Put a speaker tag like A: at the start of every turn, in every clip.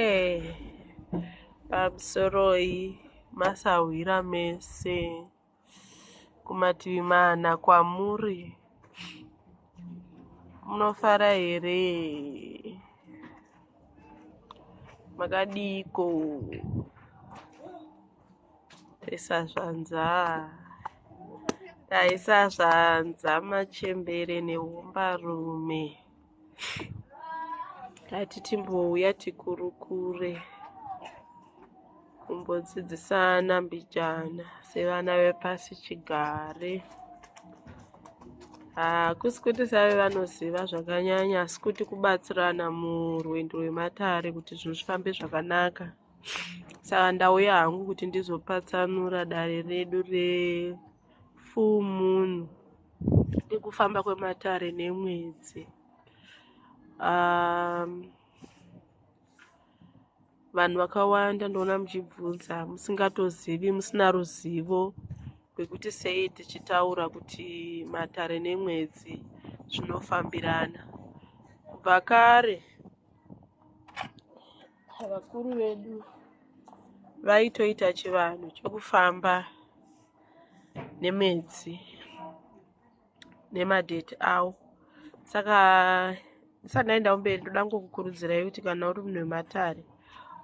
A: Eh, pamusoroi masahwira mese kumativi mana kwamuri munofara here makadiiko isazvanza taisazvanza machembere neumbarume tati timbouya tikurukure kumbodzidzisana mbijana sevana vepasi chigare hakusi kuti save vanoziva zvakanyanya asi kuti kubatsirana murwendo rwematare kuti zvinhu zvifambe zvakanaka saka ndauya hangu kuti ndizopatsanura dare redu refull moon nekufamba kwematare nemwedzi um, vanhu vakawanda ndoona muchibvunza musingatozivi musina ruzivo rwekuti sei tichitaura kuti matare nemwedzi zvinofambirana kubva kare Vakuru vedu vaitoita chivanhu chokufamba nemwedzi nemadheti awo saka ndisati ndaenda kumberi ndoda ngokukurudzirai kuti kana uri munhu wematare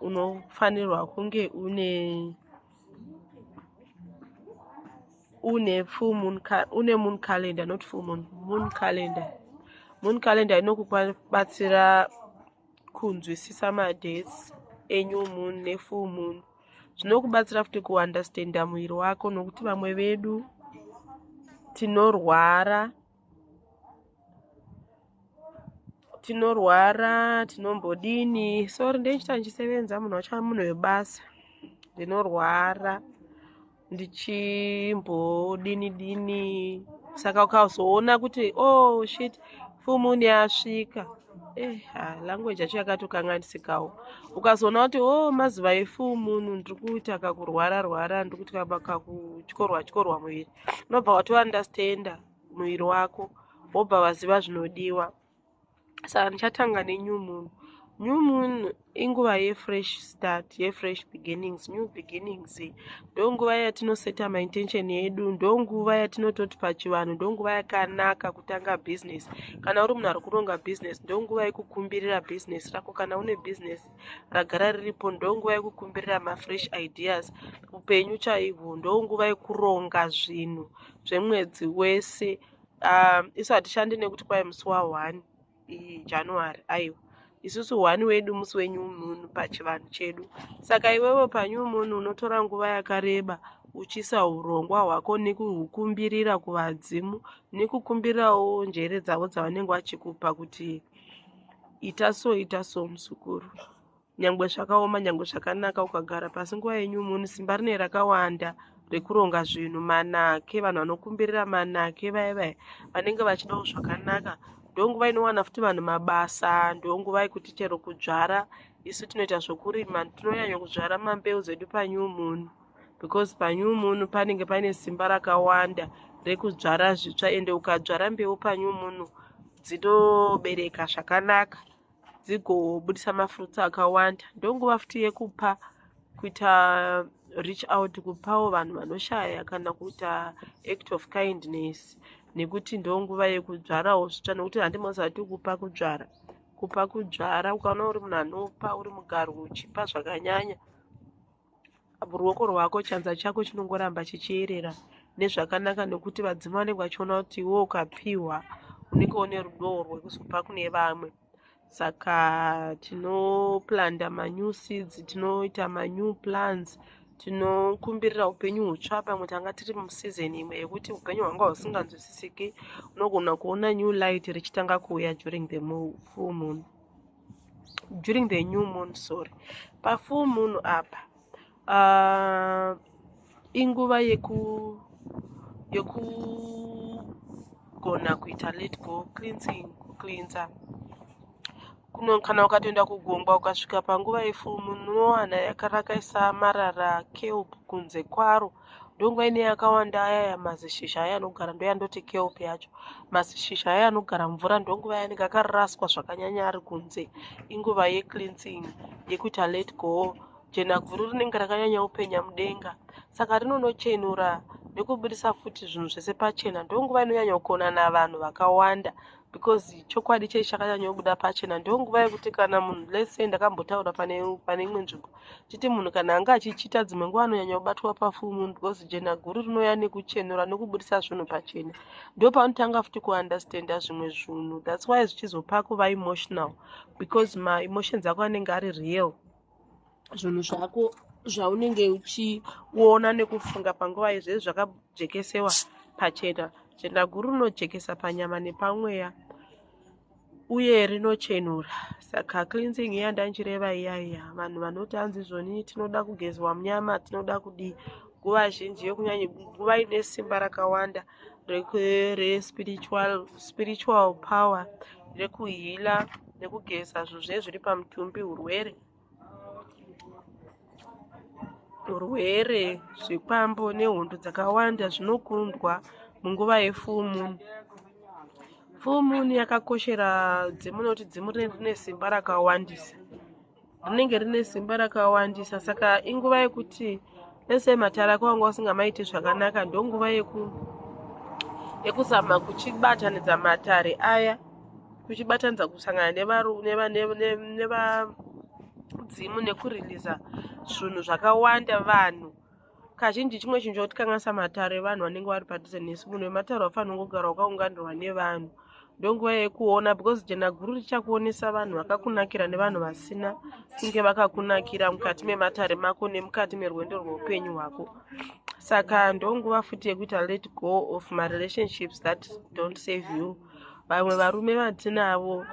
A: unofanirwa kunge une une full moon une moon calendar not full moon moon calendar moon calendar inokubatsira kunzwisisa madates enew moon nefull moon zvinokubatsira futi kuunderstanda muviri wako nokuti vamwe vedu tinorwara tinorwara tinombodini sori ndeichita ndichisevenza munhu wacho munhu webasa ndinorwara ndichimbodini dini saka ukazoona kuti oh shit full moon yasvika eh ah, language yacho yakatokanganisikawo ukazoona kuti oh mazuva efull moon ndiri kuita kakurwara rwara ndiri kuita kakutyorwa tyorwa muviri unobva watounderstanda muviri wako wobva vaziva zvinodiwa saka ndichatanga nenew moon new moon inguva yefresh start yefresh beginnings new beginnings ndonguva yatinoseta maintention yedu ndonguva yatinototi pachivanhu ndonguva yakanaka kutanga business kana uri munhu ari kuronga business ndonguva yekukumbirira business rako kana une business ragara riripo ndonguva yekukumbirira mafresh ideas upenyu chaihwo ndonguva yekuronga zvinhu zvemwedzi wese um, isu hatishandi nekuti kwai musi wa one january aiwa isusu one wedu musi wenyu munhu pachivanhu chedu saka iwewe panyu munhu unotora nguva yakareba uchisa urongwa hwako nekuhukumbirira kuvadzimu nekukumbirawo njere dzavo dzavanenge vachikupa kuti ita so ita so musukuru nyangwe zvakaoma nyangwe zvakanaka ukagara pasi nguva yenyu munhu simba rine rakawanda rekuronga zvinhu manake vanhu vanokumbirira manake vaya vaya vanenge vachidawo zvakanaka ndonguva inowana futi vanhu mabasa ndonguva yekuti chero kudzvara isu tinoita zvokurima tinonyanya kudzvara mambeu dzedu panew moon because panew moon panenge paine simba rakawanda rekudzvara zvitsva ende ukadzvara mbeu panew moon dzinobereka zvakanaka dzigobudisa mafruits akawanda ndonguva futi yekupa kuita reach out kupawo vanhu vanoshaya kana kuita act of kindness nekuti ndonguva yekudzvarawo zvitsva nekuti handimozati kupa kudzvara kupa kudzvara ukaona uri munhu anopa uri mugaro uchipa zvakanyanya Ruoko rwako chanza chako chinongoramba chichiyerera nezvakanaka nekuti vadzimu vanenge vachiona kuti iwe ukapiwa unenge une rudowo rwekuzopa kune vamwe saka tinoplanda manew seeds tinoita manew plans tinokumbirira upenyu hutsva pamwe tanga tiri museason imwe yekuti upenyu hwanga husinganzwisisiki unogona kuona new light richitanga kuuya during the full moon during the new moon sorry pafull moon apa uh, inguva yeku yekugona kuita let go cleansing kucleansa kuno kana ukatoenda kugungwa ukasvika panguva yefull moon unowana yakarakaisa marara kelp kunze kwaro ndongo ine yakawanda aya ya mazishizha aya anogara ndo yandoti kelp yacho mazishizha aya anogara mvura ndonguva yanenge akaraswa zvakanyanya ari kunze inguva yecleansing yekuti alet go jenaguru rinenge rakanyanya upenya mudenga saka rinonochenura nekubudisa futi zvinhu zvese pachena ndonguva inonyanya kukonana vanhu vakawanda because chokwadi chei chakanyanyobuda pachena ndo nguva yekuti kana munhu lese ndakambotaura pane pane imwe nzvimbo chiti munhu kana anga achichita dzimwe nguva anonyanya kubatwa pafumu because jena guru rinouya nekuchenura nekuburitsa zvinhu pachena ndo panotanga futi kuunderstanda zvimwe zvinhu thats why zvichizopa kuva emotional because maemotions ako anenge ari real zvinhu zvako zvaunenge uchiona nekufunga panguva yezvezvi zvakajekesewa pachena jenda guru rinojekesa panyama nepamweya uye rinochenura saka cleansing iya ndanchireva iya iya vanhu vanoti hanzi zvoni tinoda kugezwa munyama tinoda kudii nguva zhinji yokunyanya nguva ine simba rakawanda respiritual spiritual power rekuhila nekugeza zvozve zviri pamutumbi urwere urwere zvikwambo nehondo dzakawanda zvinokundwa munguva yefumu full moon yakakoshera dzimunoti dzimu rine simba rakawandisa rinenge rine simba rakawandisa saka inguva yekuti ese matara ako wanga usingamaiti zvakanaka ndonguva yeku yekuzama kuchibatanidza matare aya kuchibatanidza kusangana nevadzimu nekuriliza zvinhu zvakawanda vanhu kazhinji chimwe chinhu chakutikanganisa matare evanhu vanenge vari padhuze nesu munhu wematare wafanira kungogara wakaunganirwa nevanhu ndonguva yekuona because jena guru richakuonesa vanhu vakakunakira nevanhu vasina kunge vakakunakira mukati mematare mako nemukati merwendo rweupenyu hwako saka ndonguva futi yekuita let go of marelationships that don't save you vamwe varume vatinavo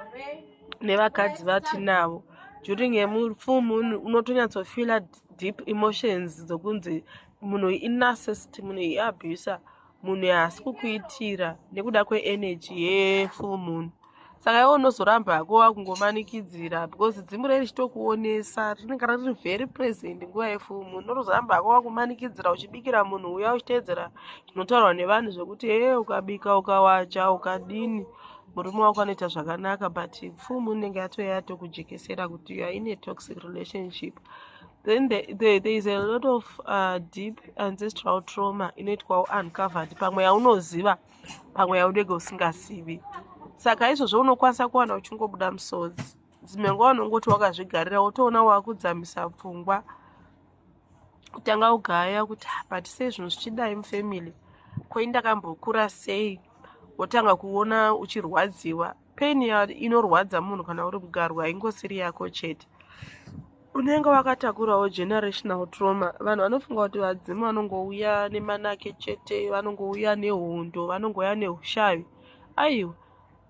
A: nevakadzi vatinavo during a full moon unotonyatsofila deep emotions dzokunzi munhu inarcist munhu iabuser munhu haasi kukuitira nekuda kweenergy yefull moon saka iwe unozoramba hako wakungomanikidzira because dzimu rei richitokuonesa rinenge riri very present nguva yefull moon unozoramba hako wakumanikidzira uchibikira munhu uya uchiteedzera zvinotaurwa nevanhu zvekuti hee ukabika ukawacha ukadini murume wako anoita zvakanaka but pfumu inenge yatouya yatokujekesera kuti you are in a toxic relationship then the, the, there is a lot of uh, deep ancestral trauma inoitwawo uncovered pamwe yaunoziva pamwe yaunenge usingazivi saka izvozvo unokwanisa kuwana uchingobuda musodzi dzimwe nguva unongoti wakazvigarira wotoona wakudzamisa pfungwa kutanga kugaya kuti but sei zvinhu zvichidai mufamily koi ndakambokura sei wotanga kuona uchirwadziwa pain inorwadza munhu kana uri kugarwa ingosiri yako chete unenge wakatakurawo generational trauma vanhu vanofunga kuti vadzimu vanongouya nemanake chete vanongouya nehondo vanongouya neushavi aiwa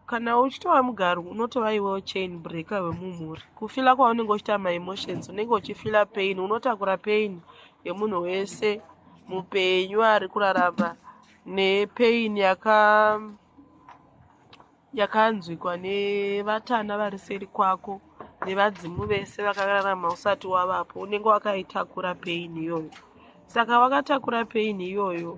A: kana uchitova mugaru unotova iwewo chain breaker wemumhuri kufila kwaunenge uchita maemotions unenge uchifila pain unotakura pain yemunhu wese mupenyu ari kurarama nepain yaka yakanzwikwa nevatana vari seri kwako nevadzimu vese vakararama usati wavapo unenge wakaitakura pain iyoyo saka wakatakura pain iyoyo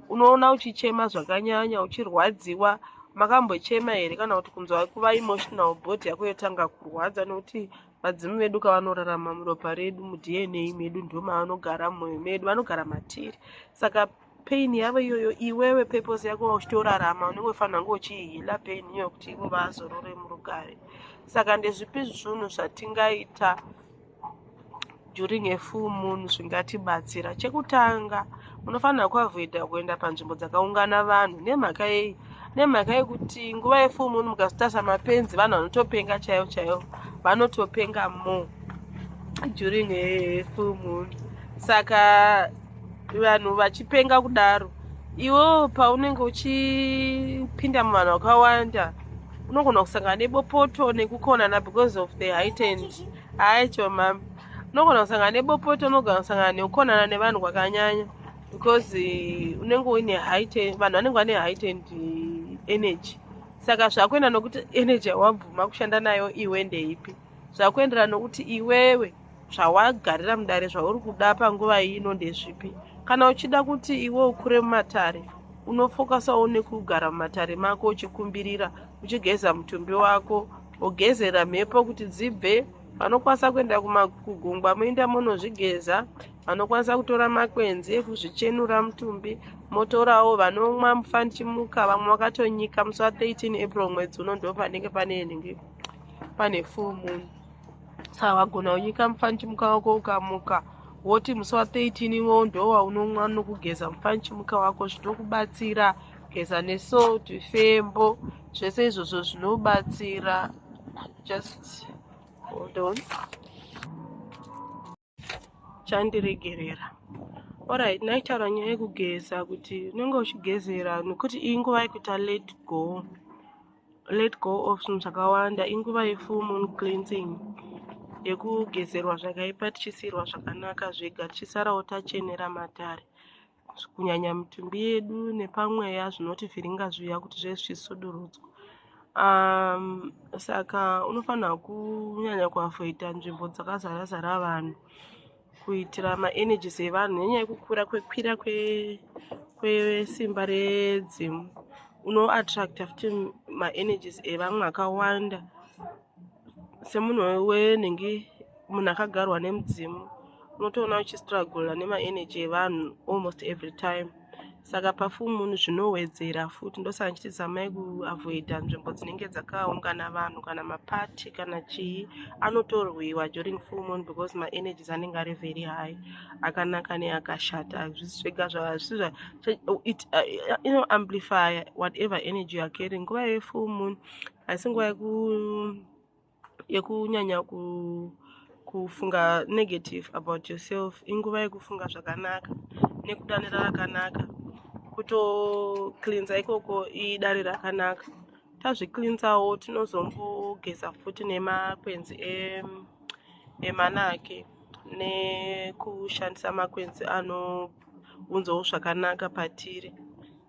A: unoona uchichema zvakanyanya uchirwadziwa makambochema here kana kuti kunzwa kuva emotional body yako yotanga kurwadza nokuti vadzimu vedu kavanorarama muropa redu mudna medu ndo mavanogara mumwoyo medu vanogara matiri saka pain yavo iyoyo iwewe purpose yako uchitorarama unenge ufanira kunge uchihila pain iyoyo kuti ivo vazorore murugare saka ndezvipi zvunhu zvatingaita during a full moon zvingatibatsira chekutanga munofanira kuavoida kuenda panzvimbo dzakaungana vanhu nemhaka yei nemhaka yekuti nguva yefull moon mukazotasa mapenzi vanhu vanotopenga chaivo chaivo vanotopenga mo during a full moon saka vanhu vachipenga kudaro iwo paunenge uchipinda muvanhu vakawanda unogona kusangana nebopoto nekukonana because of the heightened hayi cho mama unogona kusangana nebopoto unogona kusangana nekukonana nevanhu kwakanyanya because eh, unenge uine height vanhu vanenge vane height and eh, energy saka zvakuenda nokuti energy yawabvuma kushanda nayo iwe ndeipi zvakuenderana nokuti iwewe zvawagarira mudare zvauri kuda panguva ino ndezvipi kana uchida kuti iwe ukure mumatare unofokasawo nekugara mumatare mako uchikumbirira uchigeza mutumbi wako mogezera mhepo kuti dzibve vanokwanisa kuenda kugungwa moinda monozvigeza vanokwanisa kutora makwenzi ekuzvichenura mutumbi motorawo vanomwa mufanichimuka vamwe vakatonyika musi wa 13 april mwedzi uno ndo panenge pane nenge pane full moon saka wagona kunyika mufanichimuka wako ukamuka woti musi wa 13 iwowo ndo waunomwa nokugeza mufanichimuka wako zvinokubatsira kugeza nesalt fembo zvese izvozvo zvinobatsira just hold on chandiregerera orit naitaura nyaya yekugeza kuti unenge uchigezera nokuti iyi nguva yekuita let go let go of zvinhu zvakawanda inguva yefull moon cleansing yekugezerwa zvakaipa tichisiyirwa zvakanaka zvega tichisarawo tachenera matare kunyanya mitumbi yedu nepamweya zvinotivhiringa zviya kuti zve zvichisudurudzwa um, saka unofanira kunyanya kuavoida nzvimbo dzakazara zara vanhu kuitira maenergies evanhu nenyaya yekukura kwekwira kwesimba kwe redzimu unoattracta futi maenergies evamwe akawanda semunhu wenenge munhu akagarwa nemudzimu unotoona uchistrugula nemaenergy evanhu almost every time saka pafumunhu zvinowedzera futi ndosaka ndichitizamai kuavoida nzvimbo dzinenge dzakaungana vanhu kana mapati kana chii anotorwiwa during full moon because maenergies anenge ari very high akanaka neakashata hazvisi zvega zvazvisiit uh, inoamplify whatever energy youare carrying nguva yefull moon asi nguva yekunyanya ku kufunga negative about yourself inguva yekufunga zvakanaka nekudanira rakanaka kutocleansa ikoko idare rakanaka tazvicleansawo tinozombogeza futi nemakwenzi emanake nekushandisa makwenzi anounzawo zvakanaka patiri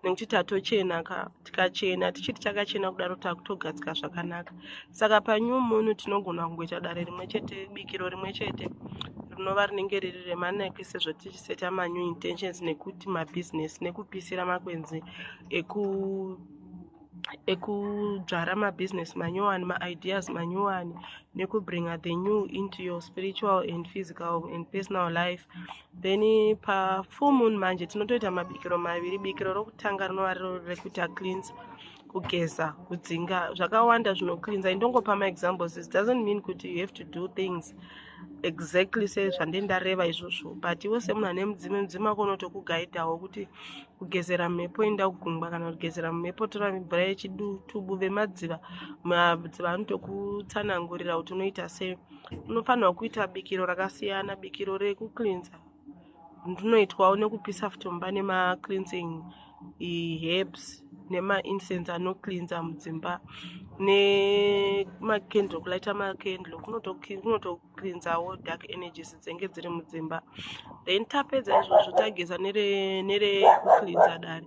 A: nekuti tatochena ka tikachena tichiti chakachena kudaro takutogadzika zvakanaka saka panew moon tinogona kungoita dare rimwe chete bikiro rimwe chete rinova rinenge riri remanaki sezvo tichiseta manew intentions nekuti mabusiness nekupisira makwenzi eku ekudzvara mabusiness manyowani maideas manyowani nekubringa the new into your spiritual and physical and personal life then pafull moon manje tinotoita mabikiro maviri bikiro rokutanga rinova riro rekuita cleans kugeza kudzinga zvakawanda zvinocleansa indongopa maexamples it doesn't mean kuti you have to do things exactly se zvande ndareva izvozvo but iwe semunhu ane mudzime mudzime wako unotokugaidhawo kuti kugezera mhepo inda kugungwa kana kugezera mhepo tora mvura yechitubu vemadziva madziva anotokutsanangurira kuti unoita sei unofanirwa kuita bikiro rakasiyana bikiro rekucleansa rinoitwawo nekupisa futi mumba nemacleansing herbs nemaincense anocleansa mudzimba nemacandle kulaita macandle kunotocleansawo dark energies dzenge dziri mudzimba then tapedza izvozvo tageza nerekuklinsa dare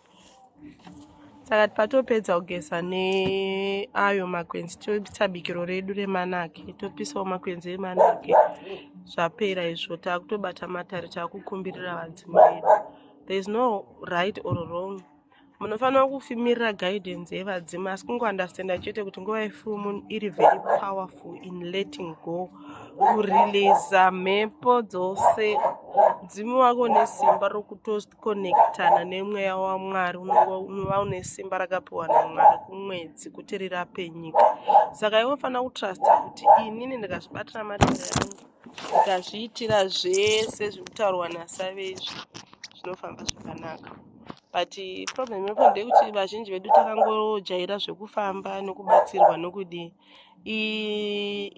A: saka patopedza kugeza neayo makwenzi toisa bikiro redu remanake topisawo makwenzi emanake zvapera izvo taakutobata matare taakukumbirira vadzimi vedu there is no right or wrong munofanira kufimirira guidance yevadzimi asi kungounderstanda chete kuti nguva yefull moon iri very powerful in letting go kureleasa mhepo dzose mudzimi wako nesimba rokutosta kukonekitana nemweya wamwari unova une simba rakapiwa namwari kumwedzi kuti rirape nyika saka iwe unofanira kutrusta kuti inini ndikazvibatira matenda yangu ndikazviitira zvese zviri kutaurwa nasave izvi zvinofamba zvakanaka but problem yako ndeyekuti vazhinji vedu takangojaira zvekufamba nokubatsirwa nokudii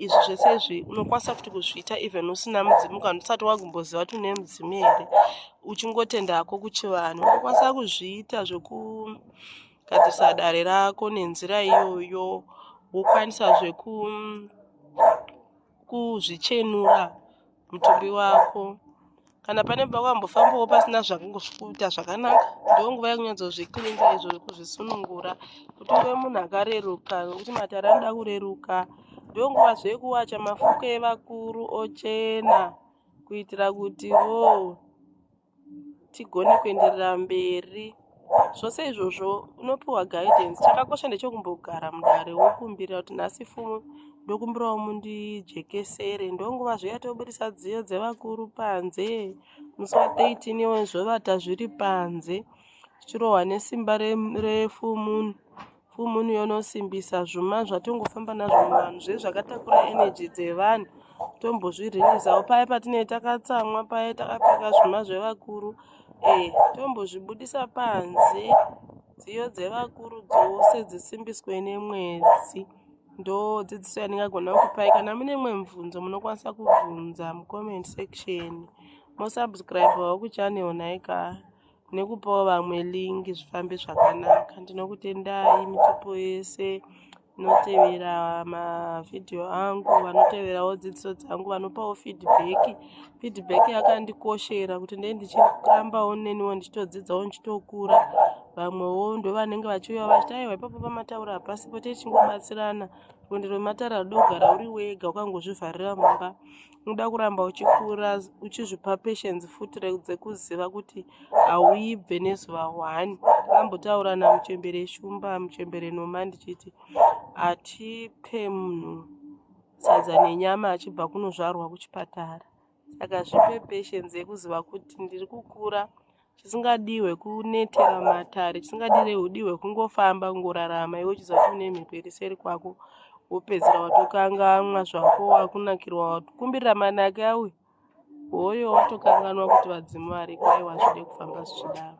A: izvi zvese izvi unokwanisa futi kuzviita even usina mudzimu kana usati wagumboziva kuti une mudzimu here uchingotenda hako kuchivanhu unokwanisa kuzviita zvekugadzirisa dare rako nenzira iyoyo wokwanisa zveku kuzvichenura mutumbi wako kana pane pakwambofambawo pasina zvakuita zvakanaka ndiwo nguva yekunyatsozviklinza izvo kuzvisunungura kuti uve munhu akareruka nokuti matare anoda kureruka ndiwo nguva zvekuwacha mafuko evakuru ochena kuitira kuti wo tigone kuenderera mberi zvose izvozvo unopiwa guidance chakakosha ndechokumbogara mudare wokumbira kuti nhasi fumo ndokumbirawo mundijekesere ndonguva zviya tobudisa dziyo dzevakuru panze musi wa 13 iwe zvovata zviri panze zvichirohwa nesimba refumun Full moon yonosimbisa zvuma zvatongofamba nazvo muvanhu zve zvakatakura energy dzevanhu tombozvirinisawo paye patinee takatsamwa paye takapfeka zvuma zvevakuru ee eh, tombozvibudisa panze dziyo dzevakuru dzose dzisimbiswe nemwedzi ndo dzidziso yandingagona kupai kana mune mwe mubvunzo munokwanisa kubvunza mucomment section mosubscribewo kuchannel nhaika nekupawo vamwe link zvifambe zvakanaka ndinokutendai mitupo yese vanotevera mavhidhiyo angu vanoteverawo dzidziso dzangu vanopawo feedback feedback yakandikoshera kuti ndee ndichirambawo neniwo ndichitodzidzawo ndichitokura vamwewo ndovanenge vachiuya vachiti aiwa ipapo pamataura hapasipo tichingobatsirana rwendo rwematare rudogara uri wega ukangozvivharira mumba unoda kuramba uchikura uchizvipa patience futi dzekuziva kuti hauibve nezuva one akambotaura namuchembere shumba muchembere noma ndichiti hatipe munhu sadza nenyama achibva kunozvarwa kuchipatara saka zvipe patience yekuziva kuti ndiri kukura chisingadii hwekunetera matare chisingadire hudii hwekungofamba kungorarama iwe uchizati une mhepo iri seri kwako wopedzera watokangamwa zvako wakunakirwa watokumbirira manake auya hoyo watokanganwa kuti vadzimu variko aiwa zvide kufamba zvichidaro